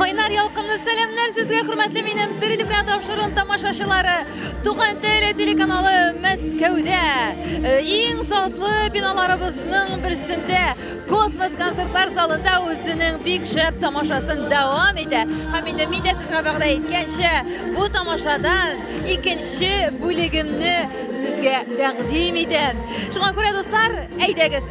Кайнар ялкынлы сәламнәр сезгә, хөрмәтле минем Середемгә тапшырын тамашачылары. Туган теле телеканалы Мәскәүдә э, иң затлы биналарыбызның берсендә Космос концертлар залында үзенең бик шәп тамашасын дәвам итә. Һәм инде мин дә сезгә вәгъдә иткәнчә, бу тамашадан икенче бүлегемне сезгә тәкъдим итәм. Шуңа күрә, дуслар, әйдәгез,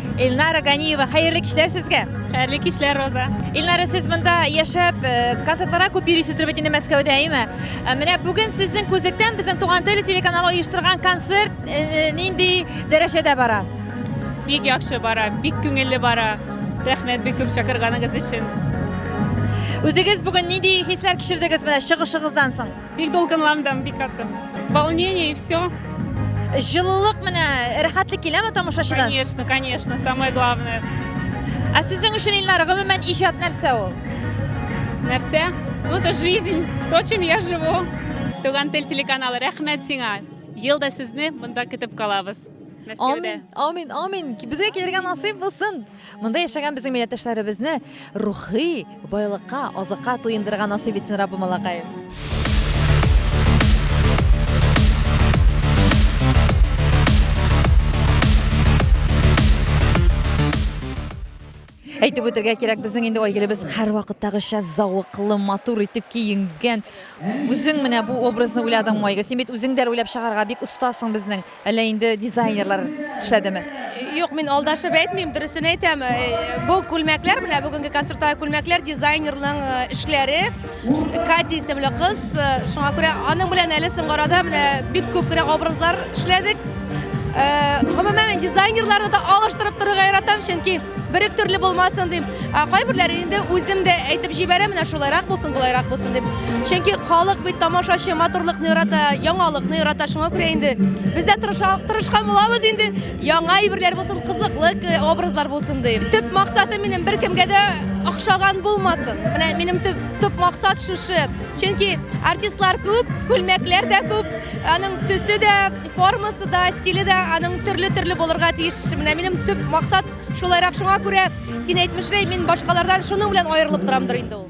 Эльнара Ганиева, хәерле кичләр сезгә. Хәерле кичләр, Роза. Эльнара, сез монда яшәп, э, концертларга күп йөрисез дип әйтә Мәскәүдә, әйме? Э, менә бүген сезнең күзлектән безнең Туган тел телеканалы оештырган концерт э, нинди дәрәҗәдә бара? Бик яхшы бара, бик күңелле бара. Рәхмәт бик күп чакырганыгыз өчен. Үзегез бүген нинди хисләр кичердегез менә чыгышыгыздан соң? Бик дулкынландым, бик каты. Волнение и все. Җылылык менә рәхәтлек киләме тамашачыдан? Конечно, конечно, самое главное. Ә сезнең өчен Илнар, гомумән иҗат нәрсә ул? Нәрсә? Ну, это жизнь, то, чем я живу. Туган тел телеканалы, рәхмәт сиңа. Ел да сезне монда көтеп калабыз. Мәскәүдә. Амин, амин, амин. Безгә килергә насыйп булсын. Монда яшәгән безнең милләттәшләребезне рухи байлыкка, азыкка туендырырга насыйп итсен Раббы малакаем. Әйтеп үтергә кирәк, безнең инде Айгелебез һәрвакыттагыча зәвыклы, матур итеп киенгән. Үзең менә бу образны уйладыңмы, Айгөл? Син бит үзең дә руләп чыгарга бик остасың безнең. Әллә инде дизайнерлар төшәдеме? Юк, мин алдашып әйтмим, дөресен әйтәм. Э, бу күлмәкләр, менә бүгенге концертта күлмәкләр дизайнерның э, эшләре. Кати исемле кыз, э, шуңа күрә аның белән әле соңгы арада менә бик күп кенә образлар эшләдек. Гомумән, дизайнерларны да алыштырып торырга яратам, чөнки Берек төрле булмасын дим. Ә кайберләре инде үзем дә әйтеп җибәрә, менә шулайрак булсын, болайрак булсын дип. Чөнки халык бит тамашачы матурлыкны ярата, яңалыкны ярата, шуңа күрә инде без дә тырыша, тырышкан булабыз инде. Яңа әйберләр булсын, кызыклы э, образлар булсын дим. Төп максатым минем беркемгә дә охшаган булмасын. Менә минем төп, төп максат шушы. Чөнки артистлар күп, күлмәкләр дә күп, аның төсе дә Формасы да, стиле дә аның төрле-төрле булырга тиеш. Менә минем төп максат шулайрак. Шуңа күрә син әйтмешрәй, мин башкалардан шуның белән аерылып торамдыр инде ул.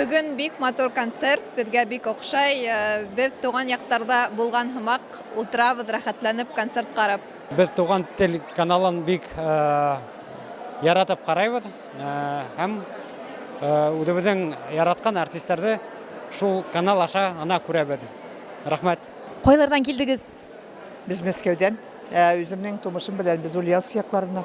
Бүген бик матур концерт, безгә бик охшай. Э, без туган яктарда булган һымак утырабыз рәхәтләнеп концерт карап. Без туган тел каналын бик э, яратып карайбыз э, һәм үзебезнең яраткан артистларны шул канал аша ана күрәбез. Рәхмәт. Кайлардан килдегез? Без Мәскәүдән. Ә үземнең тумышым белән без Ульяновск якларыннан.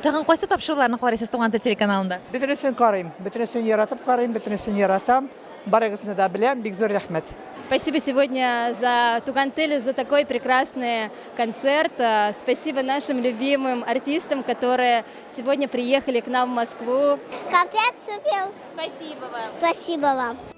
Тагын кайсы тапшыруларны карыйсыз Туган тел телеканалында? Бөтенесен карыйм, бөтенесен яратып карыйм, бөтенесен яратам. Барыгызны да беләм, бик зур рәхмәт. Спасибо сегодня за Туган теле, за такой прекрасный концерт. Э, спасибо нашим любимым артистам, которые сегодня приехали к нам в Москву. Концерт супер. Спасибо вам. Спасибо вам.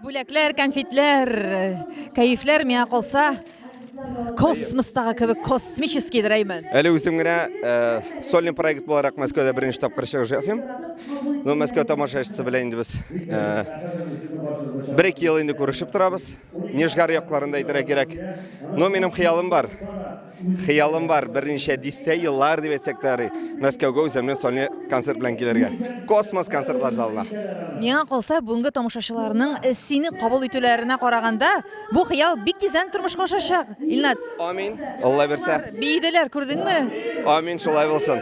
Бүләкләр, конфетләр, кәефләр миңа калса космостагы кебек космический дирәймен. Әле үзем генә э, сольный проект буларак Мәскәүдә беренче тапкыр чыгыш ясыйм. Ну, Мәскәү тамашачысы белән инде без э, бер ике ел инде күрешеп торабыз. Нижгар якларында әйтергә кирәк. Но минем хыялым бар. Хыялым бар, берничә дистә еллар дип әйтсәк тә ярый, Мәскәүгә үземнең сольный концерт белән килергә. Космос концертлар залына. Миңа калса, бүгенге тамашачыларның сине кабул итүләренә караганда, бу хыял бик тиздән тормышка ашачак, Илнат. Амин, Алла бирсә. Биеделәр, күрдеңме? Амин, шулай булсын.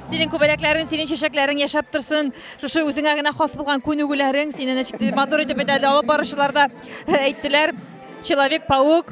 Синең күбәләкләрең, синең чәчәкләрең яшәп торсын. Шушы үзеңә генә хас булган күнегүләрең, сине ничек матур итеп бит әле алып баручылар да әйттеләр. Человек-паук.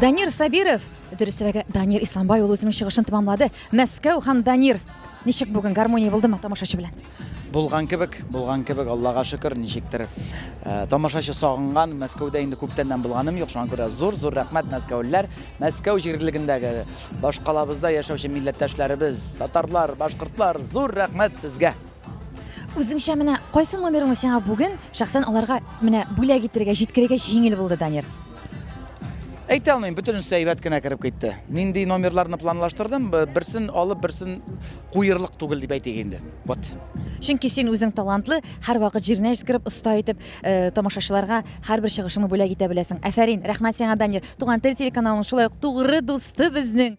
Данир Сабиров, дөресрәге Данир Исламбай ул үзенең чыгышын тәмамлады. Мәскәү һәм Данир ничек бүгін гармония булдымы тамашачы белән? Булган кебек, булган кебек, Аллаһка шөкер, ничектер. Э, тамашачы сагынган, Мәскәүдә инде күптәннән булганым юк, шуңа күрә зур, зур рәхмәт мәскәүлеләр. Мәскәү җирлегендәге башкалабызда яшәүче милләттәшләребез, татарлар, башкортлар, зур рәхмәт сезгә. Үзеңчә менә кайсы номерны сиңа бүген шәхсән аларга менә бүләк итергә, җиткерергә җиңел булды, Данир? Әйтә алмыйм, бөтенесе әйбәт кенә кереп китте. Нинди номерларны планлаштырдым, берсен алып, берсен куерлык түгел дип әйтик инде. Вот. Чөнки син үзең талантлы, һәрвакыт җиренә җиткереп, оста итеп, э, тамашачыларга һәрбер чыгышыңны бүләк итә беләсең. Әфәрин, рәхмәт сиңа, Данир. Туган тел телеканалының шулай ук тугры дусты безнең.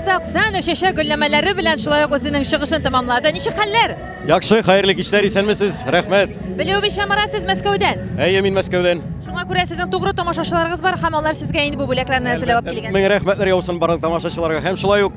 Марат Аксанов чәчәк гөлләмәләре белән шулай ук үзенең чыгышын тәмамлады. Ничек хәлләр? Яхшы, хәерле кичләр, исәнмесез. Рәхмәт. Белүебезчә, Марат, сез Мәскәүдән. Әйе, мин Мәскәүдән. Шуңа күрә сезнең тугры тамашачыларыгыз бар һәм алар сезгә инде бу бүләкләрне әзерләп алып килгән. Мең рәхмәтләр яусын барлык тамашачыларга һәм шулай ук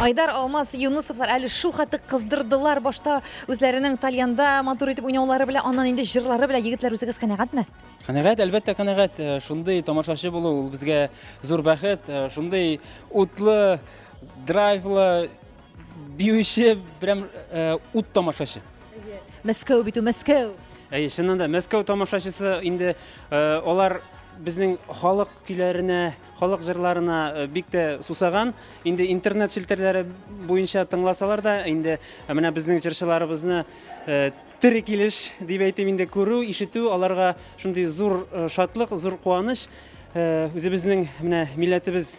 Айдар Алмаз Юнусовлар әле шул хәтле кыздырдылар башта үзләренең тальянда матур итеп уйнаулары белән, аннан инде җырлары белән егетләр үзегез канәгатьме? Канәгать, әлбәттә канәгать. Э, шундый тамашачы булу ул безгә зур бәхет. Э, шундый утлы, драйвлы Биюче берәм э, ут тамашачы. Мәскәү бит ул Мәскәү. Әйе, чыннан да Мәскәү тамашачысы инде э, алар безнең халык көйләренә, халык җырларына э, бик тә сусаган. Инде интернет челтәрләре буенча тыңласалар да, инде э, менә безнең җырчыларыбызны э, тере килеш дип әйтим инде күрү, ишетү аларга шундый зур э, шатлык, зур куаныч. Э, Үзебезнең менә милләтебез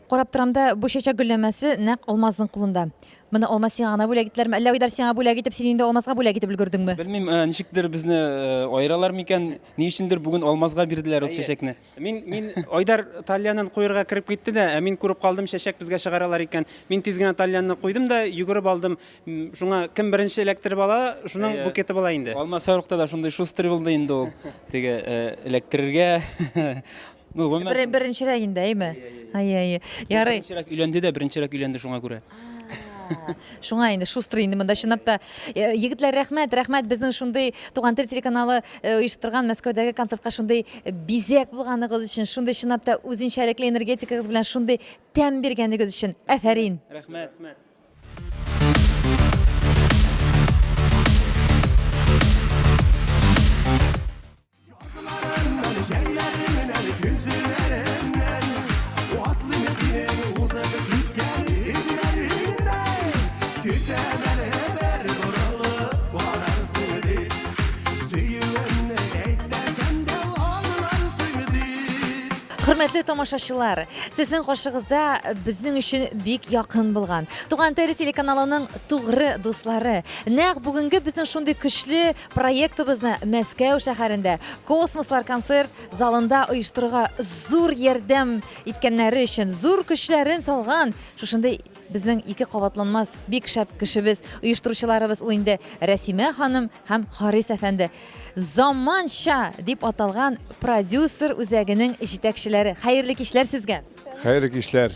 Карап торам да, бу чәчәк гөлләмәсе нәкъ Алмазның кулында. Моны Алмаз сиңа гына бүләк ителерме, әллә Айдар сиңа бүләк итеп, син инде Алмазга бүләк итеп өлгердеңме? Белмим, э, ничектер безне э, аералар микән? Ни өчендер бүген Алмазга бирделәр ул чәчәкне. Мин мин Айдар тальянын куерга кереп китте дә, ә мин күреп калдым, чәчәк безгә чыгаралар икән. Мин тиз генә тальянны куйдым да, йөгереп алдым. Шуңа кем беренче эләктереп ала, шуның букеты була инде. Алмаз сарыкта да шундый шустрый булды инде ул. Теге э, эләктерергә Ну, гомумән, Бер, беренчерәк инде, әйме? Әйе, әйе. Ярый. Беренчерәк өйләнде дә, беренчерәк өйләнде шуңа күрә. Шуңа инде шустрый инде монда чынлап та. Э, Егетләр, рәхмәт, рәхмәт безнең шундый Туган тел телеканалы э, оештырган Мәскәүдәге концертка шундый э, бизәк булганыгыз өчен, шундый чынлап та үзенчәлекле энергетикагыз белән шундый тәм биргәнегез өчен. Әфәрин. Рәхмәт. Хөрмәтле тамашачылар, сезнең каршыгызда безнең өчен бик якын булган Туган тел телеканалының тугры дуслары. Нәкъ бүгенге безнең шундый көчле Проектыбызны Мәскәү шәһәрендә Космослар концерт залында оештыруга зур ярдәм иткәннәре өчен, зур көчләрен салган шушындый безнең ике кабатланмас бик шәп кешебез, оештыручыларыбыз ул инде Рәсимә ханым һәм Харис әфәнде. Заманча дип аталган продюсер үзәгенең җитәкчеләре. Хәерле кичләр сезгә. Хәерле кичләр.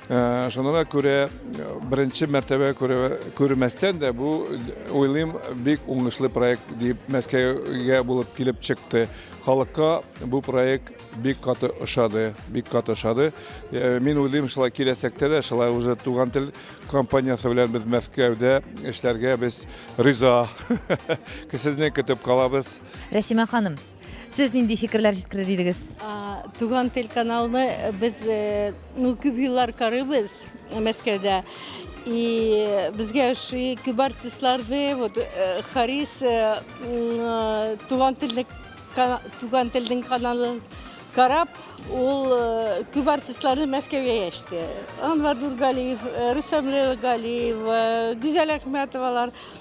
Шуңа күрә беренче мәртәбә күрмәстән дә бу, уйлыйм, бик уңышлы проект дип Мәскәүгә булып килеп чыкты. Халыкка бу проект бик каты ошады, бик каты ошады. Мин уйлыйм, шулай киләчәктә дә шулай уже Туган тел компаниясе белән без Мәскәүдә эшләргә без риза. Сезне көтеп калабыз. Рәсимә ханым, Сез нинди фикерләр җиткерер идегез? Туган тел каналны э, без э, ну күп еллар карыйбыз э, Мәскәүдә. И безгә ошый күп артистларны, вот Харис туган телне туган телнең каналын карап, ул күп артистларны Мәскәүгә яште. Анвар Дургалиев, Рустам Галиев, Гүзәл Әхмәтовалар.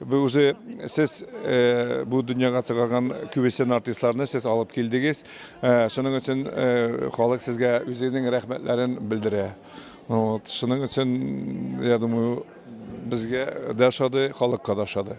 Бу уже сез э, бу дөньяга чыгарган күбесен артистларны сез алып килдегез. Э, шуның өчен э, халык сезгә үзенең рәхмәтләрен белдерә. Вот, шуның өчен, я думаю, безгә дә ошады, халыкка да ошады.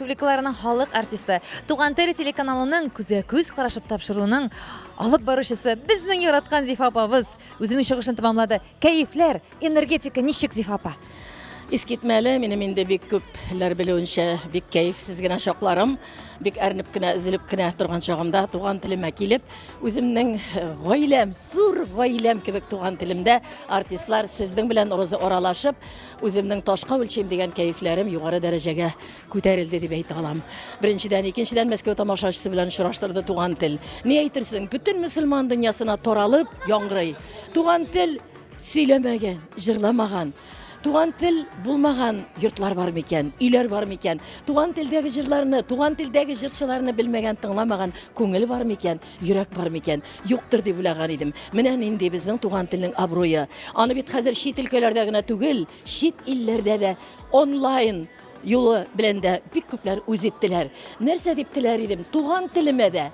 республикаларының халык артисты, Туган тел телеканалының күзгә-күз карашып тапшыруның алып баручысы, безнең яраткан Зифа апабыз үзенең чыгышын тәмамлады. Кәефләр, энергетика ничек, Зифа апа? Искитмәле, минем инде бик күпләр белүенчә, бик кәефсез генә чакларым, бик әрнеп кенә, өзелеп кенә торган чагымда туган телемә килеп, үземнең э, гаиләм, зур гаиләм кебек туган телемдә артистлар сезнең белән розы аралашып, Үземнең ташка үлчим дигән кәефләрем югары дәрәҗәгә күтәрелде дип әйтә алам. Беренчедән, икенчедән Мәскәү тамашачысы белән очраштырды туган тел. Ни әйтерсең, бөтен мөселман дөньясына таралып яңгырый. Туган тел сөйләмәгән, җырламаган, туган тел булмаган йортлар бар микән, өйләр бар микән? Туган телдәге җырларны, туган телдәге җырчыларны белмәгән, тыңламаган күңел бар микән? Йөрәк бар микән? Юктыр дип уйлаган идем. Менә нинди безнең туган телнең абруе. Аны бит хәзер чит өлкәләрдә генә түгел, чит илләрдә дә онлайн юлы белән дә бик күпләр үз иттеләр. Нәрсә дип теләр идем, туган телемә дә,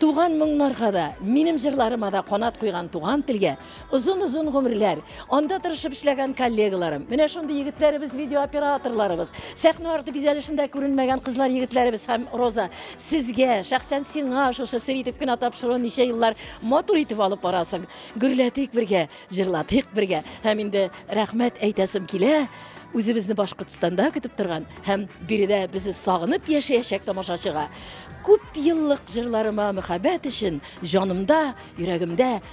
туган моңнарга да, минем җырларыма да канат куйган туган телгә, Озын озын гомерләр. Анда тырышып эшләгән коллегаларым. Менә шундый егетләребез, видеооператорларыбыз, сәхнә арты бизәлешендә күренмәгән кызлар егетләребез һәм Роза, сезгә, шәхсән сиңа шушы сер итеп кенә тапшыру ничә еллар матур итеп алып барасың. Гөрләтик бергә, җырлатыйк бергә. Һәм инде рәхмәт әйтәсем килә үзебезне Башкортстанда көтеп торган һәм биредә безне сагынып яшәячәк тамашачыга күп еллык җырларыма мәхәббәт өчен җанымда, йөрәгемдә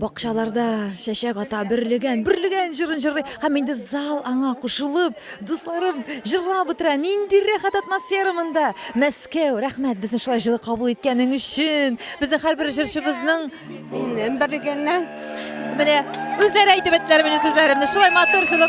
Бакчаларда чәчәк ата, берлегән, берлегән җырын җырлый. Һәм инде зал аңа кушылып, дусларым җырлап утыра. Нинди рәхәт атмосфера монда! Мәскәү, рәхмәт безне шулай җылы кабул иткәнең өчен. Безнең һәрбер җырчыбызның Минем берлегәннән. Менә үзләре әйтеп беттеләр минем сүзләремне. Шулай матур җылы.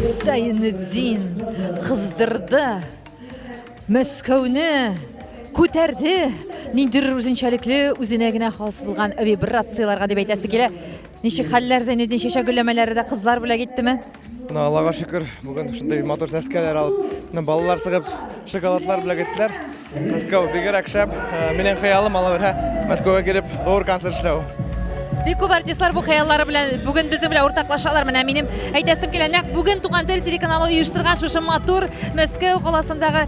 Зәйнетдин кыздырды. Мәскәүне күтәрде. Ниндидер үзенчәлекле, үзенә генә хас булган вибрацияләргә дип әйтәсе килә. Ничек хәлләр Зәйнетдин чәчәк гөлләмәләре дә кызлар бүләк иттеме? Мына Аллага шөкер, бүген шундый матур сәскәләр алып, мына балалар сыгып, шоколадлар белән киттеләр. Мәскәү бигрәк шәп. Э, минем хыялым ала бирә Мәскәүгә килеп, зур концерт эшләү. Бик күп артистлар бу хыяллары белән бүген безнең белән уртаклашалар. Менә минем әйтәсем килә, нәкъ бүген Туган тел телеканалы оештырган шушы матур Мәскәү каласындагы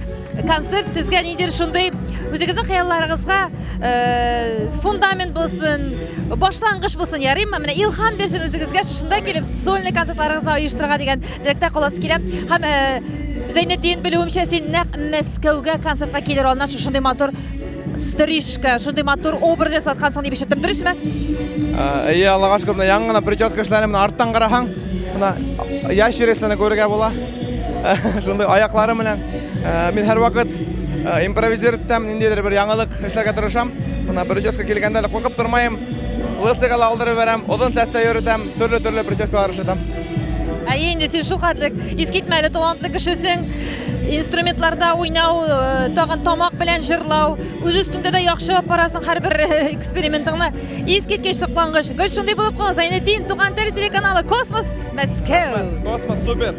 концерт сезгә нидер шундый үзегезнең хыялларыгызга э, фундамент булсын башлангыч булсын ярыймы менә илһам бирсен үзегезгә шушында килеп сольный концертларыгызны оештырырга дигән теләктә каласы килә һәм э, зәйнетдин белүемчә син нәкъ мәскәүгә концертка килер алдыннан шушындый матур стрижка шундый матур образ ясаткансың дип ишеттем дөресме әйе аллага шөкер менә яңа гына прическа эшләнеп менә арттан карасаң мына ящерицаны күрергә була шундый аяклары менән Э, мин һәрвакыт э, импровизер итәм, ниндидер бер яңалык эшләргә тырышам. Мына бер участка килгәндә дә куркып тормыйм. Лысыйга ла алдырып бирәм, озын сәстә йөртәм, төрле-төрле прическалар эшләтәм. Ә инде син шулкадәр искитмәле талантлы кешесең. Инструментларда уйнау, э, тагын тамак белән җырлау, үз өстендә дә яхшы апарасың һәрбер экспериментыңны. Искиткеч соклангыч. Гөл шундый булып кал, Зайнетдин, Туган тел телеканалы Космос Мәскәү. Космос супер.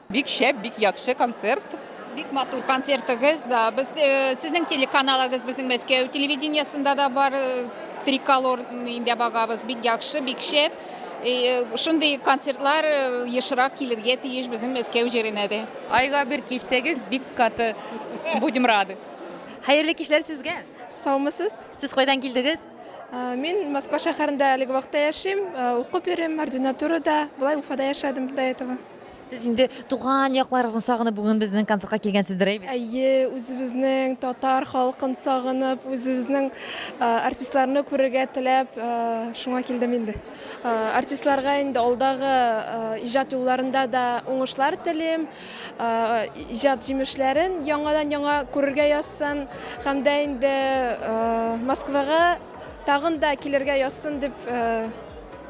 Бик шәп, бик якшы концерт. Бик матур концертыгыз да. Без сезнең телеканалыгыз безнең Мәскәү телевидениесендә дә бар. Триколор инде багабыз. Бик яхшы, бик шәп. Шундый концертлар ешрак килергә тиеш безнең Мәскәү җиренә дә. Айга бер килсәгез, бик каты будем рады. Хәерле кичләр сезгә! Саумысыз! Сез кайдан килдегез? Мин Москва шәһәрендә әлеге вакытта яшим, укып йөрим ординатурада. Болай Уфада яшәдем до этого. Сез инде туган якларыгызны сагынып бүген безнең концертка килгәнсездер, әйбит? Әйе, үзебезнең татар халкын сагынып, үзебезнең артистларны күрергә теләп, шуңа килдем инде. Артистларга инде алдагы иҗат юлларында да уңышлар телим. Иҗат җимешләрен яңадан-яңа күрергә язсын һәм дә инде Москвага тагын да килергә язсын дип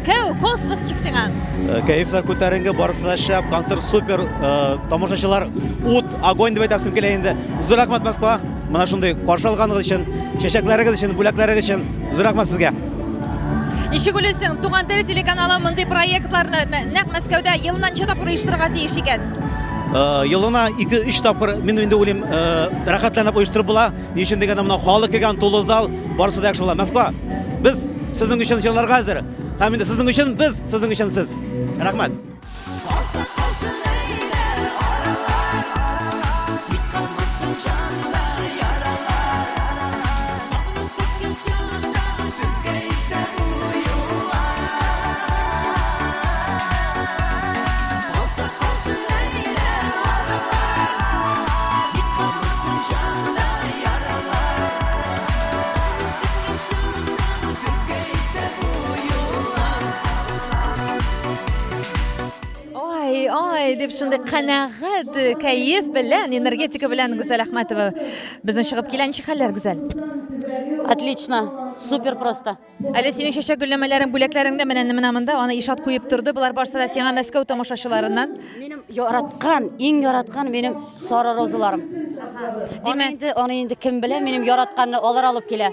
Кәү, кол сыбысы чик сиңа. Э, кәефләр күтәренге, барысы да шәп, концерт супер, э, тамашачылар ут, огонь дип әйтәсем килә инде. Зур рәхмәт Москва, менә шундый каршы алганыгыз өчен, чәчәкләрегез өчен, бүләкләрегез өчен зур рәхмәт сезгә. Ничек уйлыйсың, Туган тел телеканалы мондый проектларны нәкъ Мәскәүдә елына ничә тапкыр оештырырга тиеш икән? Э, елына 2-3 тапкыр мин инде уйлыйм, рәхәтләнеп оештырып була. Ни өчен дигәндә, менә халык килгән тулы зал, барысы да яхшы була. Москва, без сезнең өчен җырларга әзер. Һәм инде сезнең өчен без, сезнең өчен сез. Рәхмәт. дип шундый канәгать э, кәеф белән энергетика белән гүзәл әхмәтова безнең чыгып килә ничек хәлләр гүзәл отлично супер просто Әле синең чәчәк гөлләмәләрең бүләкләреңдә менә менә монда, аны Ишат куеп торды. Болар барсы да сиңа Мәскәү тамашачыларыннан. Минем яраткан, иң яраткан минем сары розаларым. Димәк, инде аны инде кем белә, минем яратканны алар алып килә.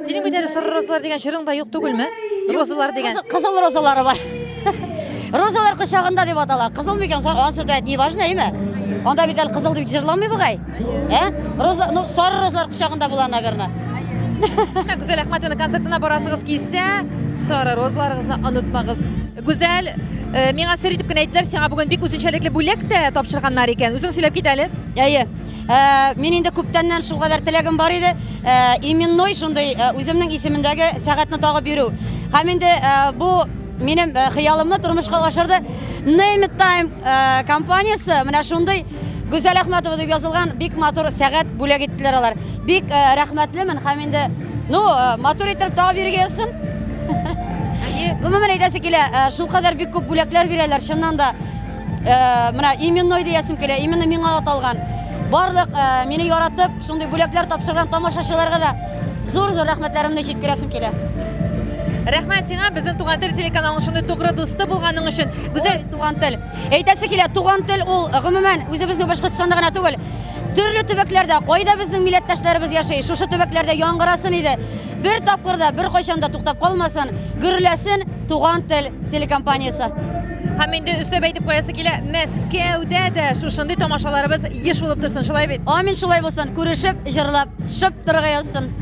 Синең бит әле сары розалар дигән җырың да юк түгелме? Розалар дигән. Кызыл розалары бар. Розалар кочагында дип атала. Кызыл микән, сары, ансы да не важно, әйме? Анда бит әле кызыл дип җырламый бугай. Ә? Роза, ну, сары розлар кочагында була, наверное. Гүзәл Әхмәтовна концертына барасыгыз килсә, сары розларыгызны онытмагыз. Гүзәл, э, миңа сер итеп кенә әйттеләр, сиңа бүген бик үзенчәлекле бүләк тә тапшырганнар икән. Үзең сөйләп кит әле. Әйе. Ә, Мин инде күптәннән шул кадәр теләгем бар иде. Ә, Именной шундый ә, үземнең исемендәге сәгатьне тагып йөрү. Һәм инде ә, бу минем ә, хыялымны тормышка ашырды. Name It Time ә, компаниясе менә шундый Гүзәл Әхмәтова дип язылган бик матур сәгать бүләк иттеләр алар. Бик э, рәхмәтлемен һәм инде ну э, матур итеп тагы биргән өчен. Гомумән әйтәсе килә, э, шул кадәр бик күп бүләкләр бирәләр, чыннан да. Э, менә именной диясем килә, именно миңа аталган. Барлык э, мине яратып, шундый бүләкләр тапшырган тамашачыларга да зур-зур рәхмәтләремне җиткерәсем килә. Рәхмәт сиңа, безнең туган тел телеканалының шундый тугры дусты булганың өчен. Гүзәл, туган тел. Әйтәсе килә, туган тел ул гомумән үзебезнең Башкортстанда гына түгел, төрле төбәкләрдә кайда безнең милләттәшләребез яши, шушы төбәкләрдә яңгырасын иде. Бер тапкырда, бер кайчанда туктап калмасын, гөрләсен туган тел телекомпаниясе. Һәм инде өстәп әйтеп куясы килә, Мәскәүдә дә шушындый тамашаларыбыз еш булып торсын, шулай бит? Амин, шулай булсын. Күрешеп, җырлап, шып торырга язсын.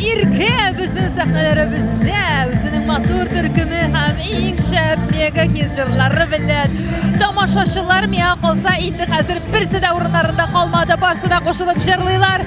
Ирке безнең сәхнәләребездә үзенең матур төркеме һәм иң шәп мега хит җырлары белән тамашачылар миңа калса инде хәзер берсе дә урыннарында калмады барсы да кушылып җырлыйлар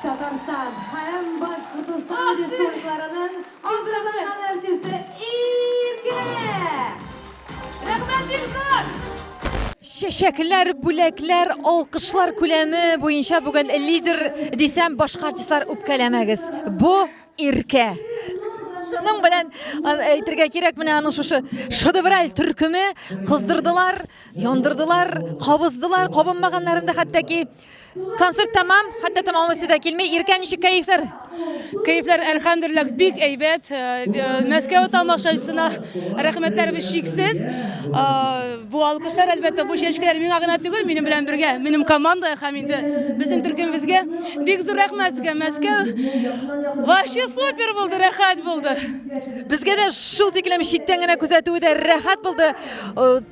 Татарстан һәм Башкортостан республикаларының Азатлык артисты Иркә! Рәхмәт бик зур! Чәчәкләр, бүләкләр, алкышлар күләме буенча бүген лидер дисәм, башка артистлар үпкәләмәгез. Бу Иркә. Шуның белән а, әйтергә кирәк, менә аның шушы шедевраль төркеме кыздырдылар, яндырдылар, кабыздылар, кабынмаганнарын да хәтта ки Концерт тәмам, хәтта тәмамлысы да килми. Иркә ничек кәефләр? Кәефләр әлхәмдүлилләх бик әйбәт. Э, э, Мәскәү тамашачысына рәхмәтләребез шиксез. Э, бу алкышлар әлбәттә бу чәчкәләр миңа гына түгел, минем белән бергә, минем команда һәм инде безнең төркемебезгә бик зур рәхмәт сезгә Мәскәү. Вообще супер булды, рәхәт булды. Безгә дә шул тиклем читтән генә күзәтүе дә рәхәт булды.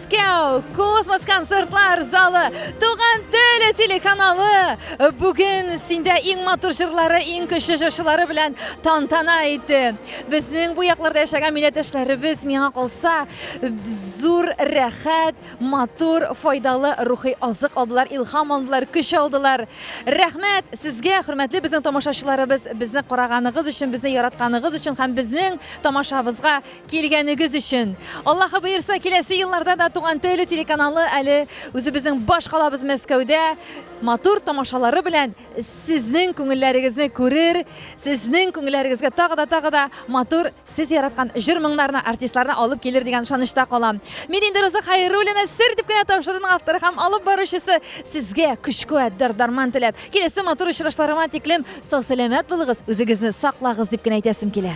Мәскәү космос концертлар залы Туган теле телеканалы бүген синдә иң матур җырлары, иң көчле җырчылары белән тантана итте. Безнең бу якларда яшәгән милләттәшләребез миңа калса зур рәхәт, матур, файдалы рухи азык алдылар, илһам алдылар, көч алдылар. Рәхмәт сезгә, хөрмәтле безнең тамашачыларыбыз, безне караганыгыз өчен, безне яратканыгыз өчен һәм безнең тамашабызга Килгәнегез өчен! Аллаһы боерса, киләсе елларда да Туган теле телеканалы әле үзебезнең баш калабыз Мәскәүдә матур тамашалары белән сезнең күңелләрегезне күрер, сезнең күңелләрегезгә тагы да, тагы да матур, сез яраткан җыр-моңнарны, артистларны алып килер дигән ышанычта калам. Мин инде Роза Хәйруллина, Сер дип кенә тапшыруның авторы һәм алып баручысы. Сезгә көч-куәт, дәрт-дарман теләп, киләсе матур очрашларыма тиклем сау-сәламәт булыгыз, үзегезне саклагыз дип кенә әйтәсем килә.